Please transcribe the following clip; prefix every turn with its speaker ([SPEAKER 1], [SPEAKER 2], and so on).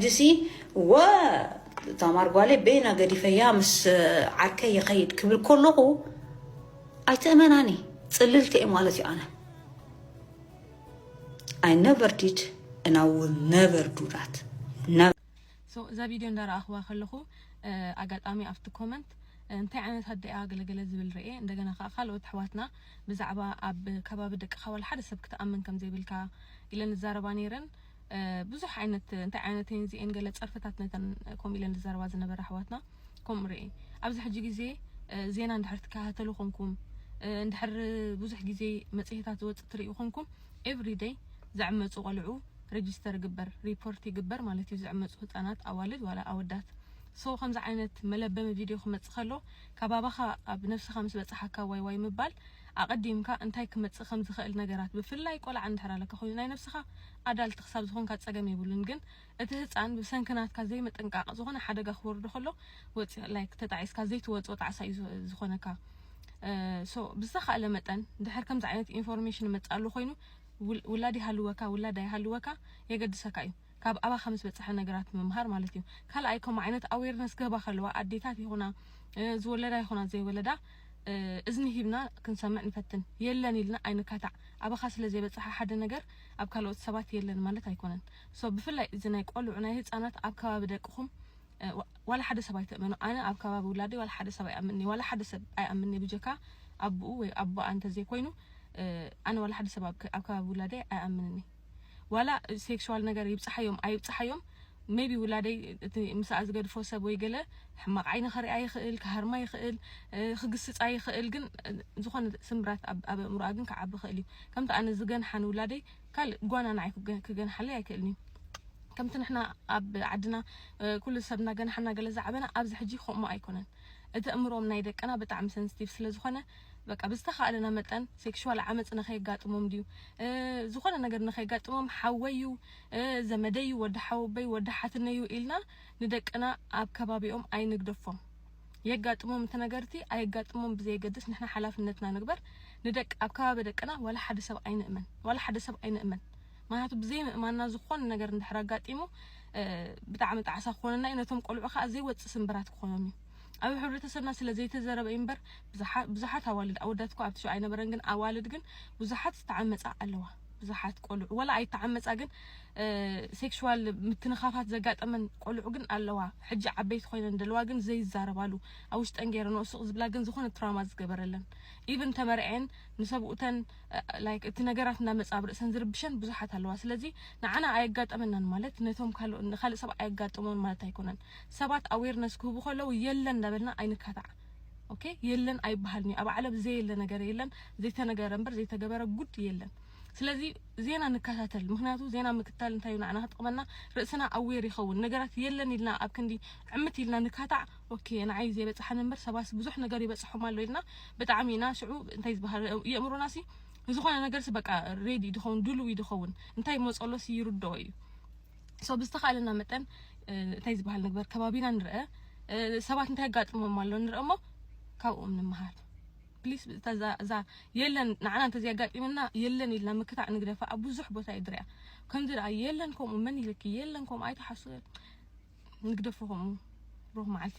[SPEAKER 1] ሕጂሲ እወ እታ ማር ጓለይ በይና ገዲፈያ ምስ ዓርከይ ይኸይድ ክብል ከለኹ ኣይትእመናን እየ ፅልልቲ እየ ማለት እዩ ኣነ ኣይ ነቨር ዲድ እና ውል ነቨር ዱዳት እዛ
[SPEAKER 2] ቪድዮ እንዳረኣኽዋ ከለኹ ኣጋጣሚ ኣብቲ ኮመንት እንታይ ዓይነት ኣደኣ ገለገለ ዝብል ርኤ እንደገና ከዓ ካልኦት ኣሕዋትና ብዛዕባ ኣብ ከባቢ ደቅኻ ዋላ ሓደ ሰብ ክትኣምን ከም ዘይብልካ ኢለን ዝዛረባ ነይረን ብዙሕ ዓይነት እንታይ ዓይነት እየን እዚኤን ገለ ጸርፍታት ነተን ከምኡ ኢለን ዝዛረባ ዝነበራ ኣሕዋትና ከምኡ ርኤ ኣብዚ ሕጂ ግዜ ዜና እንድሕር ትከታተሉ ኮንኩም እንድሕር ብዙሕ ግዜ መጽሔታት ዝወጽእ ትርእዩ ኮንኩም ኤቭሪደይ ዝዕመጹ ቆልዑ ሬጅስተር ይግበር ሪፖርት ይግበር ማለት እዩ ዝዕመጹ ህጻናት ኣዋልድ ዋላ ኣወዳት ሶ ከምዚ ዓይነት መለበሚ ቪድዮ ክመጽእ ከሎ ካብ ኣባኻ ኣብ ነፍስኻ ምስ በጽሓካ ዋይ ዋይ ምባል ኣቐዲምካ እንታይ ክመጽእ ከም ዝኸእል ነገራት ብፍላይ ቆልዓ እንድሕር ኣለካ ኮይኑ ናይ ነብስኻ ኣዳልት ክሳብ ዝኾንካ ጸገም የብሉን ግን እቲ ህጻን ብሰንኪ ናትካ ዘይምጥንቃቕ ዝኾነ ሓደጋ ክወርዶ ከሎ ወጺ like ተጣዒስካ ዘይትወጾ ጣዕሳ እዩ ዝኾነካ so ብዝተኻእለ መጠን እንድሕር ከምዚ ዓይነት ኢንፎርሜሽን ይመጽእ ኣሎ ኮይኑ ውላድ ይሃልወካ ውላድ ኣይሃልወካ የገድሰካ እዩ ካብ ኣባካ ምስ በጸሐ ነገራት ምምሃር ማለት እዩ ካልኣይ ከምኡ ዓይነት ኣዌርነስ ክህባ ከለዋ ኣዴታት ይኹና ዝወለዳ ይኹና ዘይወለዳ እዝኒ ሂብና ክንሰምዕ ንፈትን የለን ኢልና ኣይንካታዕ ኣባካ ስለ ዘይበጽሐ ሓደ ነገር ኣብ ካልኦት ሰባት የለን ማለት ኣይኮነን ሶ ብፍላይ እዚ ናይ ቆልዑ ናይ ህጻናት ኣብ ከባቢ ደቅኹም ዋላ ሓደ ሰብ ኣይትእመኑ ኣነ ኣብ ከባቢ ውላደይ ዋላ ሓደ ሰብ ኣይኣምንኒ ዋላ ሓደ ሰብ ኣይኣምንኒ ብጀካ ኣቡኡ ወይ ኣቦኣ እንተዘይኮይኑ ኣነ ዋላ ሓደ ሰብ ኣብ ከባቢ ውላደይ ኣይኣምንኒ ዋላ ሴክሽዋል ነገር ይብጻሓዮም ኣይብጻሓዮም ሜይቢ ውላደይ እቲ ምሳኣ ዝገድፎ ሰብ ወይ ገለ ሕማቕ ዓይኒ ከሪኣ ይኽእል ክሃርማ ይኽእል ክግስጻ ይኽእል ግን ዝኾነ ስምብራት ኣብ ኣብ ኣእምሮኣ ግን ክዓቢ ይኽእል እዩ ከምቲ ኣነ ዝገንሓ ንውላደይ ካልእ ጓና ንዓይ ክገ- ክገንሓለይ ኣይክእልን እዩ ከምቲ ንሕና ኣብ ዓድና እ፣ ኩሉ ሰብ እናገንሓና ገለ ዝዓበና ኣብዚ ሕጂ ከምኡ ኣይኮነን እቲ ኣእምሮኦም ናይ ደቅና ብጣዕሚ ሰንስቲቭ ስለ ዝኾነ በቃ ብዝተኻእለና መጠን ሴክሹዋል ዓመጽ ንኸየጋጥሞም ድዩ ዝኾነ ነገር ንኸየጋጥሞም ሓወዩ ዘመደዩ ወዲ ሓወበይ ወዲ ሓትነዩ ኢልና ንደቅና ኣብ ከባቢኦም ኣይንግደፎም የጋጥሞም እቲ ነገርቲ ኣየጋጥሞም ብዘየገድስ ንሕና ሓላፍነትና ንግበር ንደቂ ኣብ ከባቢ ደቅና ዋላ ሓደ ሰብ ኣይንእመን ዋላ ሓደ ሰብ ኣይንእመን ምክንያቱ ብዘይ ምእማንና ዝኾነ ነገር እንድሕር ኣጋጢሙ ብጣዕሚ ጣዕሳ ክኾነና እዩ ነቶም ቆልዑ ከዓ ዘይወፅእ ስምብራት ክኾኖም እዩ ኣብ ሕብረተሰብና ስለ ዘይተዘረበ እዩ እምበር ብዙሓት ኣዋልድ ኣወዳት እኮ ኣብቲ ሹዕ ኣይነበረን ግን ኣዋልድ ግን ብዙሓት ዝተዓመጻ ኣለዋ ብዙሓት ቆልዑ ወላ ኣይተዓመጻ ግን ሴክሹዋል ምትንኻፋት ዘጋጠመን ቆልዑ ግን ኣለዋ ሕጂ ዓበይቲ ኮይነን ደለዋ ግን ዘይዛረባሉ ኣብ ውሽጠን ገይረንኦ ስቕ ዝብላ ግን ዝኾነ ትራማ ዝገበረለን ኢቭን ተመርዐን ንሰብኡተን ላይክ እቲ ነገራት እናመጻ ኣብ ርእሰን ዝርብሸን ብዙሓት ኣለዋ ስለዚ ንዓና ኣየጋጠመናን ማለት ነቶም ካልእ ሰብ ኣየጋጥሞን ማለት ኣይኮነን ሰባት ኣዌርነስ ክህቡ ከለዉ የለን እንዳበልና ኣይንካታዕ ኦኬ የለን ኣይበሃልንዩ ኣብ ዓለም ዘየለ ነገር የለን ዘይተነገረ እምበር ዘይተገበረ ጉድ የለን ስለዚ ዜና ንከታተል ምክንያቱ ዜና ምክታል እንታይ እዩ ንዓና ክጥቕመና ርእስና ኣዌር ይኸውን ነገራት የለን ኢልና ኣብ ክንዲ ዕምት ኢልና ንካታዕ ኦኬ ንዓይ ዘይበፅሓኒ እምበር ሰባስ ብዙሕ ነገር ይበፅሖም ኣሎ ኢልና ብጣዕሚ ኢና ሽዑ እንታይ ዝበሃል የእምሮና ሲ ንዝኾነ ነገር ሲ በቃ ሬዲ ድኸውን ድሉው ይድኸውን እንታይ መፀሎሲ ይርድኦ እዩ ሶ ብዝተኻእለና መጠን እንታይ ዝበሃል ንግበር ከባቢና ንርአ ሰባት እንታይ ኣጋጥሞም ኣሎ ንርአ እሞ ካብኦም ንምሃር ፕሊስ እዛ የለን ንዓና እንተዘይ ኣጋጢምና የለን ኢልና ምክታዕ ንግደፋ ኣብ ብዙሕ ቦታ እዩ ድርያ ከምዚ ደኣ የለን ከምኡ መን ኢልኪ የለን ከምኡ ኣይትሓሱ ንግደፎ ከምኡ ሩኽ መዓልቲ